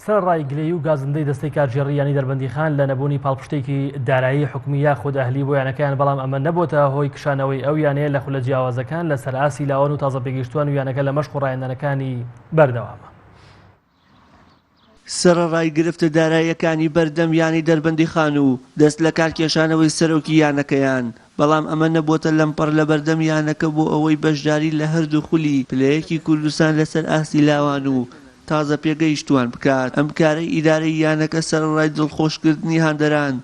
سەرەڕای گلەیی و گازندەی دەستەی کارگێڕی یانەی دەربەندیخان لە نەبوونی پاڵپشتێکی دارایی حکومی یاخود ئەهلی بۆ یانەکەیان بەڵام ئەمە نەبۆتە هۆی کشانەوەی ئەو یانەیە لە خولە جیاوازەکان لەسەر ئاستی لاوان و تازەپێگەیشتووان و یانەکە لە مەشق و ڕایەندانەکانی بەردەوامە. سەرەڕای گرفتە داراییەکانی بەردەم یانەی دەربەندیخان و دەستلەکارکێشانەوەی سەرۆکی یانەکەیان، بەڵام ئەمە نەبووەتە لەمپەڕ لەبەردەم یانەکە بۆ ئەوەی بەشداری لە هەردوو خولی پلەیەکی کوردستان لەسەر ئاستی لاوان و تازە پێگەیشتووان بکات، ئەم کارەی ئیدارەی یانەکە سەرەڕای دڵخۆشکردنی هاندەران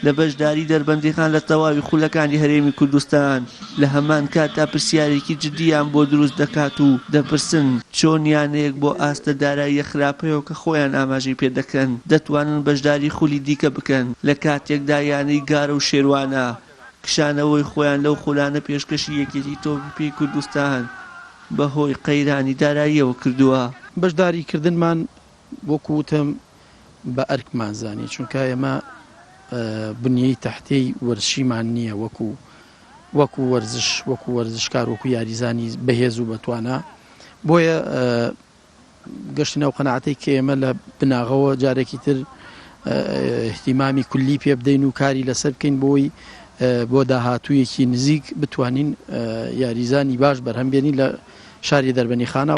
لە بەشداری دەربەندیخان لە تەواوی خولەکانی هەرێمی کوردستان، لە هەمان کاتدا پرسیارێکی جدییان بۆ دروست دەکات و دەپرسن، چۆن یانەیەک بۆ ئاستە داراییە خراپەوە، خۆیان ئاماژەی پێ دەکەن دەتوانن بەشداری خولی دیکە بکەن لە کاتێکدا یانەی گارە و شێروانە کشانەوەی خۆیان لەو خولانە پێشکەشی یەکێتی تۆپی پێی کوردستان بە هۆی قەیرانی داراییەوە کردووە. بەشداری کردنمان وەکو وتم بە ئەرکمان زانی چونکە ئێمە بنیەی تەحتەی وەرزشیمان نییە وەکو وەکو وەرزش وەکو وەرزشکار وەکو یاریزانی بەهێز و بەتوانا بۆیە گەشتینە ئەو قەناعەتەی کە ئێمە لە بناغەوە جارێکی تر احتیمامی کولی پێ بدەین و کاری لەسەر بکەین بۆی بۆ داهاتوویەکی نزیک بتوانین یاریزانی باش بەرهەم بێنی لە شاری دەربەنی خانە.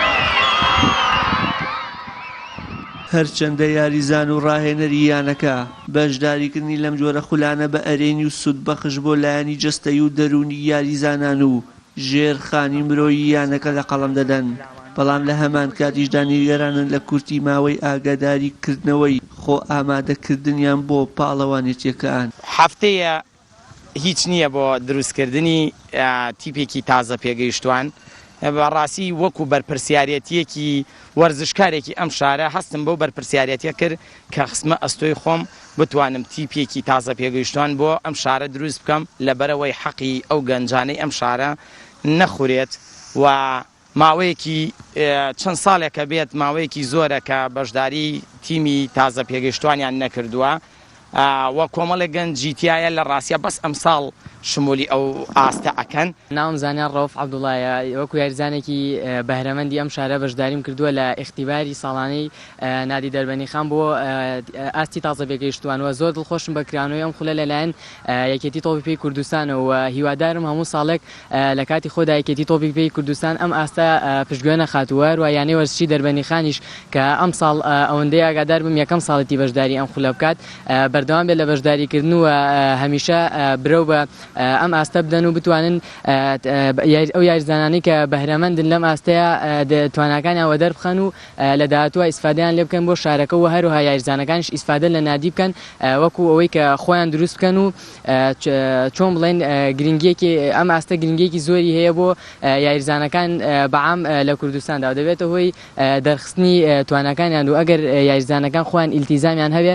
هەرچەندە یاریزان و راهێنەری یانەکە بەشداریکردنی لەم جۆرە خولانە بە ئەرێنی و سوودبەخش بۆ لایەنی جەستەیی و دەروونی یاریزانان و ژێرخانی مرۆیی یانەکە لە قەڵەم دەدەن، بەڵام لە هەمانکاتیشدا نیگەرانن لە کورتی ماوەی ئاگاداری کردنەوەی خۆ ئامادە کردنیان بۆ پاڵەوانێتیەکان. هەفتەیە هیچ نییە بۆ دروست کردنی تیپێکی تازە پێگەیشتوان، بەڕاستی وەکو بەرپرسیارێتیەکی وەرزشکارێکی ئەم شارە هەستم بەو بەرپرسیارێتیە کرد، کە خستمە ئەستۆی خۆم بتوانم تیپێکی تازە پێگەیشتوان بۆ ئەم شارە دروست بکەم لەبەرئەوەی حەقی ئەو گەنجانەی ئەم شارە نەخورێت و ماوەیەکی چەند ساڵێکە بێت ماوەیەکی زۆرە کە بەشداری تیمی تازە پێگەیشتوانیان نەکردووە و کۆمەڵێک گەنجی تایە لە ڕاستە بەس ئەمساڵ شمولی ئەو ئاستە ئەکەن. ناوم زانیار ڕەوف عەبدوڵڵایە، وەکو یاریزانێکی بەهرەمەندی ئەم شارە بەشداریم کردووە لە ئیختیباری ساڵانەی نادی دەربەنیخان بۆ ئاستی تازە بێگەیشتووان و زۆر دڵخۆشم بە کرانەوەی ئەم خولە لەلایەن یەکێتی تۆپی پێی کوردستانەوە و هیوادارم هەموو ساڵێک لە کاتی خۆدا یەکێتی تۆپی پێی کوردستان ئەم ئاستە پشتگوێ نەخات و هەروە یانەی وەرزشی دەربەنیخانیش کە ئەمساڵ ئەوەندەی ئاگادار بم یەکەم ساڵێتی بەشداری ئەم خولە بکات بەردەوام بێت لە بەشداریکردن و هەمیشە برەو بە ئەم ئاستە بدەن و بتوانن ئەو یاریزانانەی کە بەهرەمەندن لەم ئاستەیە تواناکانیان وەدەربخەن و لە داهاتووە ئیسفادەیان لێ بکەن بۆ شارەکە و هەروها یاریزانەکانیش ئیسفادە لە نادی بکەن وەکو ئەوەی کە خۆیان دروست بکەن و چۆن بڵێن گرنگیەکی ئەم ئاستە گرنگیەکی زۆری هەیە بۆ یاریزانەکان بەعام لە کوردستاندا و دەبێتە هۆی دەرخستنی توانەکانیان و ئەگەر یاریزانەکان خۆیان ئیلتیزامیان هەبێ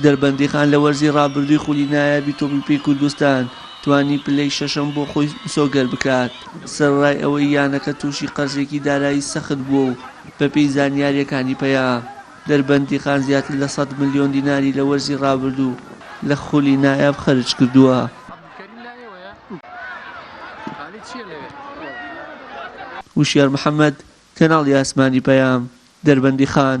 دەربەندیخان لە وەرزی رابردووی خولی نایابی تۆپی پێی کوردستان، توانی پلەی شەشەم بۆ خۆی مسۆگەر بکات، سەرەڕای ئەوەی یانەکە تووشی قەرزێکی دارایی سەخت بووە و بەپێی زانیارییەکانی پەیا دەربەندیخان زیاتر لە سەد ملیۆن دیناری لە وەرزی رابردوو لە خولی نایاب خەرج کردووە. هوشیار محەمەد، کەناڵی ئاسمانی پەیام، دەربەندیخان.